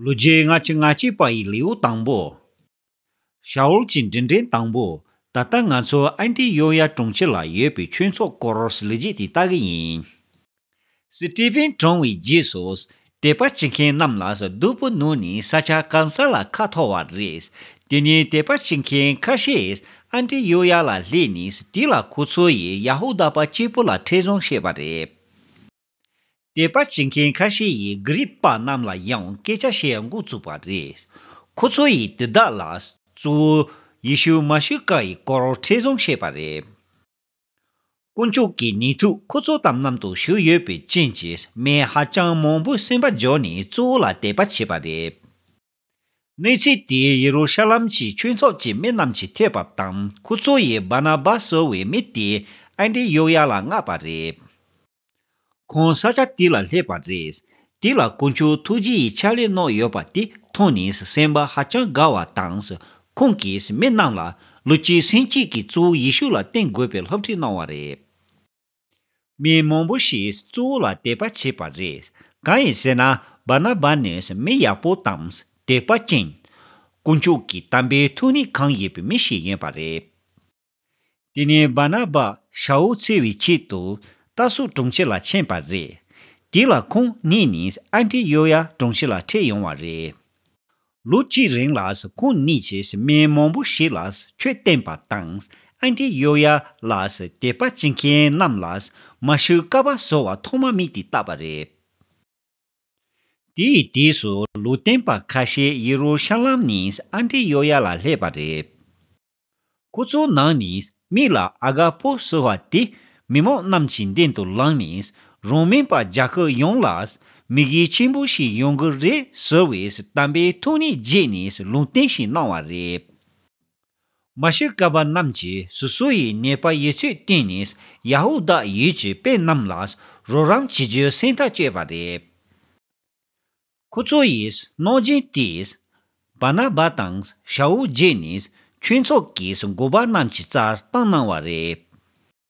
ལོ་བརྒྱའི་སྔ་ཕྱི་ང་སྐྱེས་པ་ཡི་ལེའུ་དང་པོ། ཤའོལ་གྱི་འབྲིང་འགྲེལ་དང་པོ། ད་ལྟ་ང་ཚོ་ཨན་ཏི་ཡོ་ཡ་གྲོང་ཁྱེར་ལ་ཡོད་པའི་ཆོས་ཚོགས་སྐོར་ལས་རྗེས་དེ་ལྟ་གི་ཡིན། སི་ཏི་ཕེན་གྲོངས་བའི་རྗེས་སུ། དད་པ་བྱེད་མཁན་རྣམས་ལ་སྡུག་པོ་གནོད་ནས་ས་ཆ་གང་ས་ལ་ཁ་འཐོར་བ་རེད། དེ་ནས་དད་པ་བྱེད་མཁན་ཁ་ཤས་ཨན་ཏི་ཡོ་ཡ་ལ་སླེབས་ནས་དེ་ལ་ཁོ་ཚོ་ཡིས་ཡ་ཧུ་དཱ་པ་སྐྱེས་བུ་ལ་ཁྲེལ་བཟང་བྱས་པ་རེད། དད་པ་བྱེད་མཁན་ཁ་ཤས་ཡིས་དགེ་རིག་པ་རྣམས་ལ་ཡང་སྐད་ཆ་བཤད་འགོ་བཙུགས་པ་རེད། ཁོ་ཚོ་ཡིས་དེ་དག་ལ་གཙོ་བོ་ཡེ་ཤུ་མཱ་ཤི་ཀ་ཡི་སྐོར་ཁྲི་བཟུང་བཤད་པ་རེད། དཀོན་མཆོག་གི་ནུས་མཐུ་ཁོ་ཚོ་དམ་རྣམ་དུ་ཞུགས་ཡོད་པའི་རྐྱེན་གྱིས་མི་ཧ་ཅང་མང་པོས་སེམས་པ་འཇོག་ནས་གཙོ་བོ་ལ་དད་པ་བྱེད་པ་རེད། གནས་ཚུལ་དེས་ཡེ་རུ་ཤ་ལམ་གྱི་ཆོས་ཚོགས་ཀྱི་མི་རྣམས་ཀྱི་ཐོས་པ་དང་ཁོ་ཚོ་ཡིས་བཱ་ན་བཱ་ཟེར་བའི་མི་དེ་ཨན་དྲི་ཡོག་ཡ་ལ་མངགས་པ་རེད། ཁོང་ས་ཆ་དེ་ལ་སླེབས་པ་རེད། དེ་ལ་དཀོན་མཆོག་ཐུགས་རྗེ་ཡི་ཕྱག་ལས་གནང་ཡོད་པ་དེ་མཐོང་ནས་སེམས་པ་ཧ་ཅང་དགའ་བ་དང། ཁོང་གིས་མི་རྣམས་ལ་ལོ་གཅིག་ཟིན་གཅིག་གིས་གཙོ་བོ་ཡེ་ཤུ་ལ་བསྟེན་དགོས་པའི་སློབ་ཁྲིད་གནང་བ་རེད། མི་མང་པོ་ཞིག་གཙོ་བོ་ལ་དད་པ་བྱེད་པ་རེད། གང་ཡིན་ཟེར་ན་བཱ་ན་བཱ་ནི་མི་ཡག་པོ་དང་དད་པ་ཅན། དཀོན་མཆོག་གི་དམ་པའི་ཐུགས་ནི་གང་ཡོད་པའི་མི་ཞིག་ཡིན་པ་རེད། དེ་ནས་བཱ་ན་བཱ་ཤ་འོ་ཚེ་བའི་ཆེད་དུ་རྟ་སོག་གྲོང་ཁྱེར་ལ་ཕྱིན་པ་རེད། དེ་ལ་ཁོང་གཉིས་ནི་ཨན་ཏི་ཡོ་ཡཱ་གྲོང་ཁྱེར་ལ་འཁྲིད་ཡོང་བ་རེད། ལོ་གཅིག་རིང་ལ་ཁོང་གཉིས་ཀྱིས་མི་མང་པོ་ཞིག་ལ་ཆོས་བསྟན་པ་དང་ཨན་ཏི་ཡོ་ཡཱ་ལ་དད་པ་བྱེད་མཁན་རྣམས་ལ་མ་ཤུ་ཀ་བཱ་ཟེར་བ་ཐོག་མ་མིག་དེ་བཏགས་པ་རེད། དེའི་རྗེས་སུ་ལུས་བསྟན་པ་ཁ་ཤས་ཡེ་རུ་ཤ་ལམ་ནས་ཨན་ཏི་ཡོ་ཡཱ་ལ་སླེབས་པ་རེད། སྐུ་གཙུག་ནང་ནས་མིག་ལ་ཨ་དགའ་པོ་གསོལ་བ་དེ་མི་མང་རྣམས་ཀྱི་མདུན་དུ་ལངས་ནས་རང་མིན་པ་རྒྱ་ཁག་ཡོངས་ལ་མིག་ཡིད་ཆེན་པོ་ཞིག་ཡོང་གི་རེད་ཟེར་བའི་གཏམ་པའི་ཐུགས་ནི་རྗེས་ནས་ལུང་བསྟན་ཞིག་གནང་བ་རེད། མ་ཤི་ཀ་པ་རྣམས་ཀྱི་སོ་སོ་ཡི་ནད་པ་ཡོད་ཚུལ་བསྟན་ནས་ཡ་ཧུ་དཱ་ཡུལ་གྱི་དཔེ་རྣམས་ལ་རོགས་རམ་བྱེད་རྒྱུའི་སེམས་ཐག་གཅོད་པ་རེད། ཁུ་ཚུར་ཡིས་གནོད་སྦྱིན་དེས། བཱ་ན་བཱ་དང་ཤའུ་རྒྱས་ནས་ཁྱུ་ཚོགས་ཀྱིས་མགུ་བ་རྣམས་ཀྱི་རྩར་བཏང་གནང་བ་རེད།